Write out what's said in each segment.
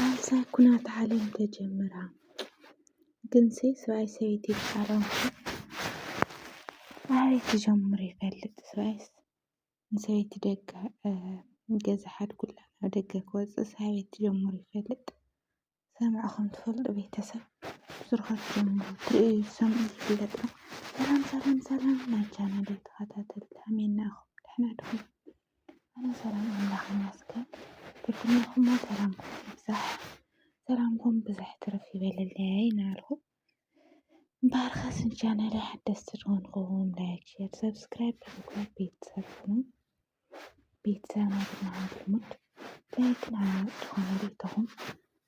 ኣንሳ ኩናት ዓለም ተጀምራ ግንሲ ሰብኣይ ሰበይቲ ይፋረሙ ኣበይ ክጀምሩ ይፈልጥ ሰብኣይስ ንሰበይቲ ደጋ ገዛ ሓድጉላ ናብ ደገ ክወፅእስ ኣበይ ክጀምሩ ይፈልጥ ሰምዕኹም ትፈልጡ ቤተሰብ ስርሖት ጀምሩ ትርእዩ ዝሰምዑ ዝፍለጥ ሰላም ሰላም ሰላም ናይ ቻናለይ ተኸታተልቲ ኣሜን ናእኹም ደሕና ድኹም ኣነ ሰላም ኣምላኽ ይመስገን ብፍናኹሞ ሰላምኩም ይብዛሕ ሰላምኩም ብዝሕ ትርፍ ይበልለይ ናርሁ ባርኸ ስንቻናለ ሓደስቲ ዝኾንኩም ላይክ ሼር ሰብስክራይብ ብምግባር ቤተሰብ ሁኑ ቤተሰብ ናትና ሃንትሙት ላይክን ሃናት ዝኾነ ቤተኹም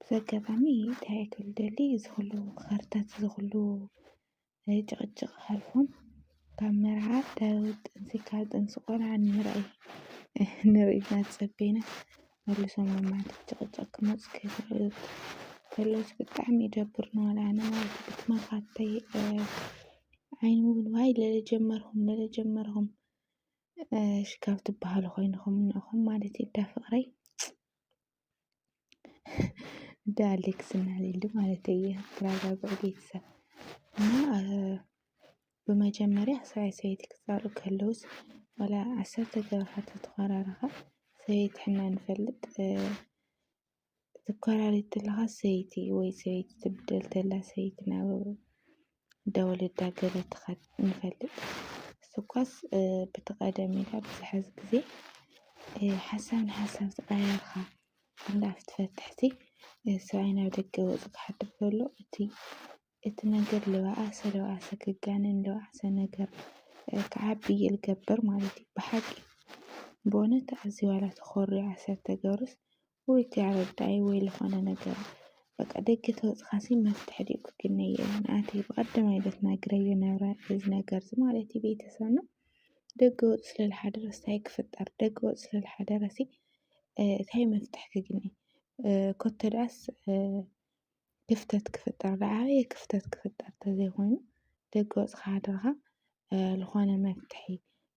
በዚ ኣጋጣሚ እንታይ ክብል ይደሊ እዚ ኩሉ ኻርታት እዚ ኩሉ ጭቕጭቕ ሓልፎም ካብ መርዓ ካብ ጥንሲ ካብ ጥንሲ ቆልዓ ንምርኣይ ንርኢ ኢልና ዝጸበና መልሶም ናብ መዓት ጭቕጭቕ ክመጹ ከለዉ ከለዉስ ብጣዕሚ ይደብር ንበል ኣነ ማለት እዩ ብትማኻተይ ዓይኒ እውን ዋይ ለለ ጀመርኹም ለለ ጀመርኹም ሽካብ ትበሃሉ ኮይንኹም እንኹም ማለት እዩ እንዳ ፍቕረይ እንደ አሌክስ እና ሊሊ ማለት የተረጋጉ ቤተሰብ እና ብመጀመርያ ሰብኣይ ሰበይቲ ክፃሉ ከለዉስ ዋላ ዓሰርተ ገረኻት ተተኳራረኻ ሰበይቲ ሕና ንፈልጥ ትኳራሪ ተለኻ ሰይቲ ወይ ሰበይቲ ትብደል ተላ ሰይቲ ናብ ደወለዳ ገለ ትኸድ ንፈልጥ ስኳስ ብቲ ቐደም ኢልካ ብዝሐዚ ጊዜ ሓሳብ ንሓሳብ ዝቐያየርካ እንዳ ኣፍትፈትሕቲ ሰብኣይ ናብ ደገ ወጹ ክሓድር ከሎ እቲ እቲ ነገር ልባኣሰ ልባኣሰ ክጋነን ልባኣሰ ነገር ክዓቢ ይገብር ማለት እዩ። ብሓቂ ብእውነት ኣዚ ዋላ ተኾርዮ ኣሰር ተገብርስ ወይ እቲ ኣረዳኢ ወይ ልኾነ ነገር በቃ ደገ ተወጽኻሲ መፍትሒ ድዩ ክግነይ ናቲ ብቐደማይ ለት ናግረዮ ነረ እዚ ነገር እዚ ማለት እዩ ቤተሰብና ደገ ወጽ ስለ ዝሓደረ እንታይ ክፍጠር ደገ ወጽ ስለ ዝሓደረሲ እንታይ መፍትሒ ክግነ ኮተ ድኣስ ክፍተት ክፍጠር ዝዓበየ ክፍተት ክፍጠር ተዘይኾይኑ ደገ ወጽኻ ሓድርኻ ዝኾነ መፍትሒ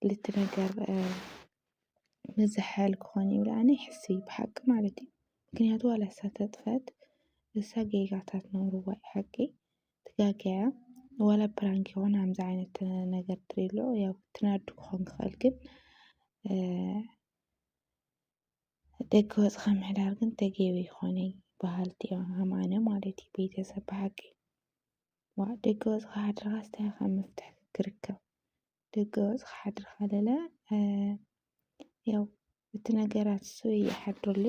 ልትነገር ምዝሕል ክኾን እዩ ኢለ ኣነ ይሕስብ ብሓቂ ማለት እዩ ምክንያቱ ዋላ እሳ ተጥፈት እሳ ጌጋታት ነውርዋ እዩ ሓቂ ትጋገያ ዋላ ፕራንክ ይኾን ከምዚ ዓይነት ነገር ትሪሎ ያው ትናዱ ክኾን ክኽእል ግን ደገ ወፅኻ ምሕዳር ግን ተገቢ ይኾነ በሃልቲ እዮም ሃማነ ማለት እዩ ቤተሰብ ብሓቂ ዋ ደገ ወፅኻ ሓድርኻ ስታይ ካብ መፍትሒ ክርከብ ደገ ወጽኻ ሓድሪ ካለለ ያው እቲ ነገራት እሱ ይሓድርሉ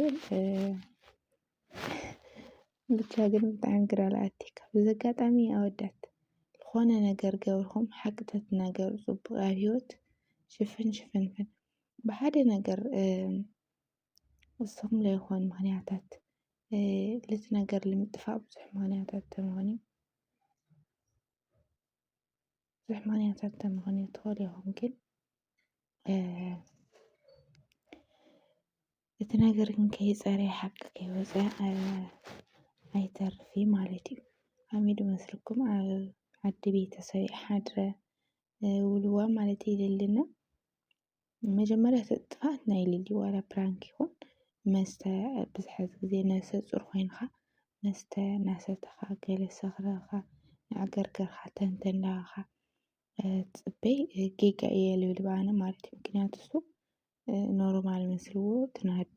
ብቻ ግን ብጣዕሚ ግራ ለኣቲካ በዚ ኣጋጣሚ ኣወዳት ዝኾነ ነገር ገብርኹም ሓቂ ተትናገሩ ጽቡቅ ኣብ ሂወት ሽፍን ሽፍንፍን ብሓደ ነገር እሶም ለይኾን ምክንያታት ልቲ ነገር ልምጥፋእ ብዙሕ ምክንያታት ተምኾኒ ብዙሕ ምክንያታት ተምኾኑ ትኸል ኢኹም ግን እቲ ነገር ግን ከይፀረየ ሓቂ ከይወፀ ኣይተርፊ ማለት እዩ ሓሚዱ መስልኩም ኣብ ዓዲ ቤተሰብ ሓድረ ውልዋ ማለት ይልልና መጀመርያ እቲ ጥፍኣት ናይ ሊሊ ዋላ ፕራንክ ይኹን መስተ ኣብዚ ሕዚ ግዜ ነብሰ ፁር ኮይንኻ መስተ እናሰተኻ ገለ ሰኽሩ ኢልካ እናዓገርገርካ ተንተን እናበልካ ትፅበይ ጌጋ እየ ልብል እየ ኣነ ማለት እዩ። ምክንያቱ እሱ ኖርማል መስልዎ ትናዱ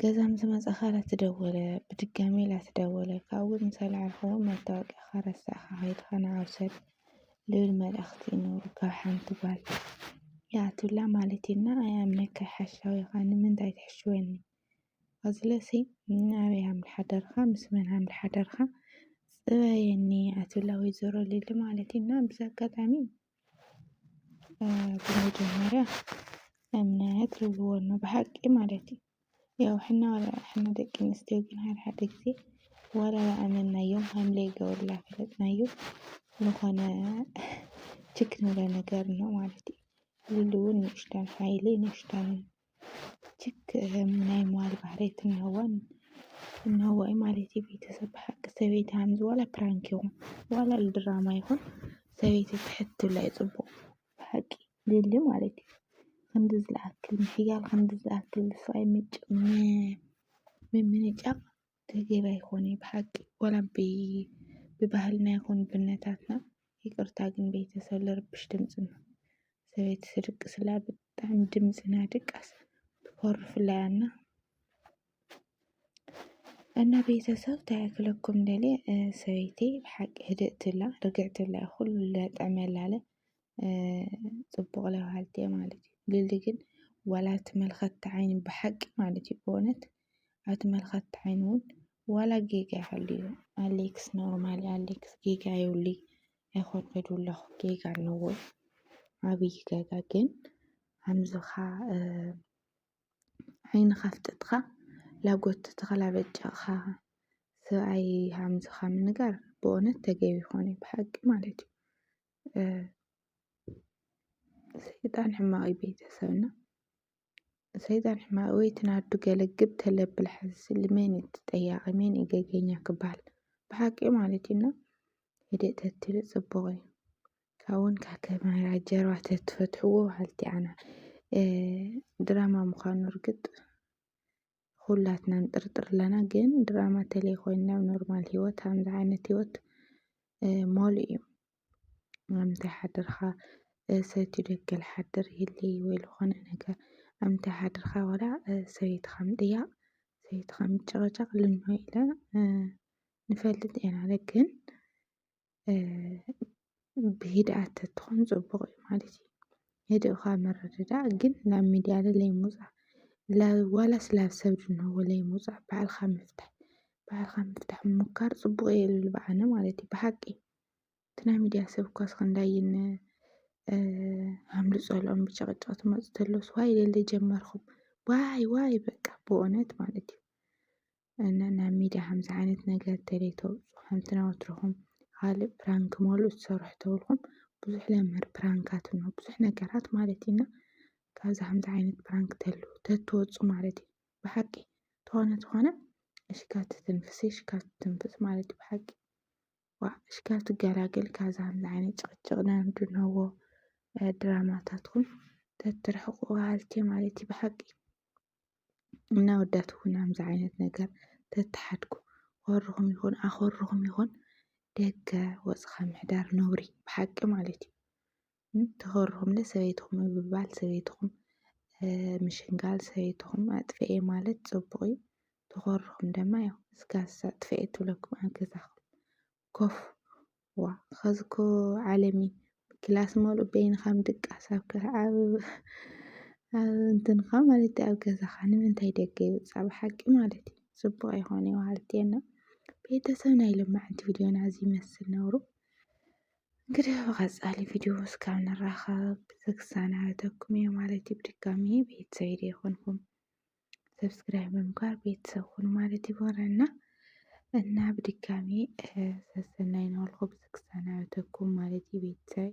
ገዛ ምስ መጻኻ ላተደወለ ብድጋሚ ላተደወለ ካብኡ ምስ ኣልዓልካ ውን መታወቅያኻ ረሳዕካ ከይድካ ንዓ ውሰድ ልብል መልእኽቲ እዩ ነይሩ ካብ ሓንቲ ጓል ይኣትውላ ማለት እዩ እና ኣይኣምነካ ሓሻዊ ኢኻ ንምንታይ ትሕሽወኒ ኣዝለሲ ንኣበይ ሃም ሓደርካ ምስ መን ሃም ሓደርካ ጽበየኒ ኣትብላ ወይዘሮ ሊሊ ማለት እዩ እና ብዚ ኣጋጣሚ ብመጀመርያ እምነት ርግኦት ነው ብሓቂ ማለት እዩ። ያው ሕና ዋላ ሕና ደቂ ኣንስትዮ ግን ሓደ ሓደ ግዜ ዋላ ዝኣመንናዮ ሃም ለይገብርላ ዝፈለጥናዮ ዝኾነ ችክ ንብሎ ነገር ኣሎ ማለት እዩ። ሉሉ እውን ንእሽተን ሓይሊ ንእሽተን ችክ ናይ መዋል ባህሪ ትነወን እነወይ ማለት ቤተሰብ ሓቂ ሰበይቲ ሃምዝ ዋላ ፕራንክ ይኹን ዋላ ድራማ ይኹን ሰበይቲ ትሕት ትብላ እዩ ፅቡቕ ሓቂ ልሊ ማለት እዩ ከምዚ ዝለኣክል ምሕያል ከምዚ ዝኣክል ስቓይ ምጭ ምምንጫቕ ተገቢ ኣይኮነይ ብሓቂ ዋላ ብባህልና ይኹን ብነታትና ይቅርታ ግን ቤተሰብ ልርብሽ ድምፂ እማ ሰበይቲ ስድቅስላ ብጣዕሚ ድምፅና ድቃስ ትኮርፍላይ ኣና እና ቤተሰብ ታያክለኩም ደልየ ሰበይቲ ብሓቂ ህድእትላ ርግዕትላ ኩሉ ለጥዕመላለ ፅቡቕ ለባሃልቲ እየ ማለት እዩ ልሊ ግን ዋላ እቲ መልኸቲ ዓይኒ ብሓቂ ማለት እዩ ብእውነት ኣቲ መልኸቲ ዓይኒ እውን ዋላ ጌጋ ይሃልዩ ኣሌክስ ኖርማል ኣሌክስ ጌጋ የብሉይ ኣይኮንኩን ኢሉ ኣለኹ ጌጋ ኣለዎ ዓብዪ ጌጋ ግን ከምዝኻ ዓይንኻ ኣፍጥጥኻ ላጎት ተኽላ በጨቕኻ ሰብኣይ ከምዝኻ ምንጋር ብእውነት ተገቢ ይኾነ ብሓቂ ማለት እዩ ሰይጣን ሕማቅ እዩ ቤተሰብና ሰይጣን ሕማቅ ወይ ትናዱ ገለግብ ተለብል ሓዝስሊ መን እዩ ተጠያቂ መን እዩ ገገኛ ክበሃል ብሓቂ ማለት እዩና ህድእ ተትሉ ፅቡቅ እዩ ካብውን ካብ ካሜራ ጀርባ ተትፈትሕዎ በሃልቲ ኣና ድራማ ምዃኑ እርግጥ ኹላትና ንጥርጥር ኣለና ግን ድራማ ተለይ ኮይኑ ናብ ኖርማል ሂወት ከምዚ ዓይነት ሂወት ሞል እዩ ምንታይ ሓድርካ ሰቲ ደገ ልሓድር ይህሊ ወይ ልኾነ ነገር ኣምንታይ ሓድርካ ዋላ ሰበይትኻ ምጥያቕ ሰበይትኻ ምጭቕጫቕ ልንሆ ኢለ ንፈልጥ ኢና ግን ብሂድኣት ተትኾን ፅቡቕ እዩ ማለት እዩ። ህድእኻ ምርድዳእ ግን ናብ ሚድያ ለለይ ምውፃእ ዋላስ ላብ ሰብ ዝንህዎ ለይምውፃእ ባዕልኻ ምፍታሕ ባዕልኻ ምፍታሕ ምሞካር ፅቡቕ እየ ልብል ብኣነ ማለት እዩ። ብሓቂ እቲ ናይ ሚድያ ሰብ እኳ እስክንድይ እነ ኣምልጦ ኣልኦም ብጭቕጭቕ ትመፁ ተለውስ ዋይ ለለ ጀመርኹም ዋይ ዋይ በቃ ብእውነት ማለት እዩ። እና ናብ ሚድያ ከምዚ ዓይነት ነገር እንተዘይተውፅኡ ከምቲ ናይ ወትሮኹም ኻሊእ ፕራንክ መሉእ ትሰርሑ ተብልኩም ብዙሕ ለመድ ፕራንካት ኣሎ ብዙሕ ነገራት ማለት እዩ እና ካብዚ ከምዚ ዓይነት ፕራንክ ተሉ ተትወፁ ማለት እዩ ብሓቂ ተኾነ ተኾነ እሺ ካብ ትትንፍሲ እሺ ካብ ትትንፍስ ማለት እዩ ብሓቂ ዋእ እሺ ካብ ትገላገል ካብዚ ከምዚ ዓይነት ጭቕጭቕ ናንድነዎ ድራማታትኩም ተትርሕቑ በሃልቲ እየ ማለት እዩ ብሓቂ እና ኣወዳት እውን ከምዚ ዓይነት ነገር ተተሓድጉ ኮርኹም ይኹን ኣኾርኹም ይኹን ደገ ወፅኻ ምሕዳር ነውሪ ብሓቂ ማለት እዩ ተኾርኹም ለ ሰበይትኹም ምብባል ሰበይትኹም ምሽንጋል ሰበይትኹም ኣጥፍኤ ማለት ፅቡቅ እዩ ተኾርኹም ደማ ያው እስካሳ ኣጥፍኤ ትብለኩም ኣብ ገዛኹም ኮፍ ዋእ ኸዚ እኮ ዓለም እዩ ክላስ መሉእ በይንኻ ምድቃስ ኣብ እንትንኻ ማለት ኣብ ገዛኻ ንምንታይ ደገ ይውፃእ ብሓቂ ማለት እዩ ፅቡቅ ኣይኮነ ዋሃልትየና ቤተሰብ ናይ ልማዕንቲ ቪድዮና እዚ ይመስል ነብሩ እንግዲህ በቀፃሊ ቪድዮ እስካብ ንራኸብ ብዝክሳናበተኩም እየ ማለት እዩ ብድጋሚ ቤተሰብ ይደ ይኮንኩም ሰብስክራይብ ብምግባር ቤተሰብ ኩኑ ማለት ይቦረና እና ብድጋሚ ሰሰናይ ናበልኩ ክሰናበተኩም ማለት እዩ ቤተሰብ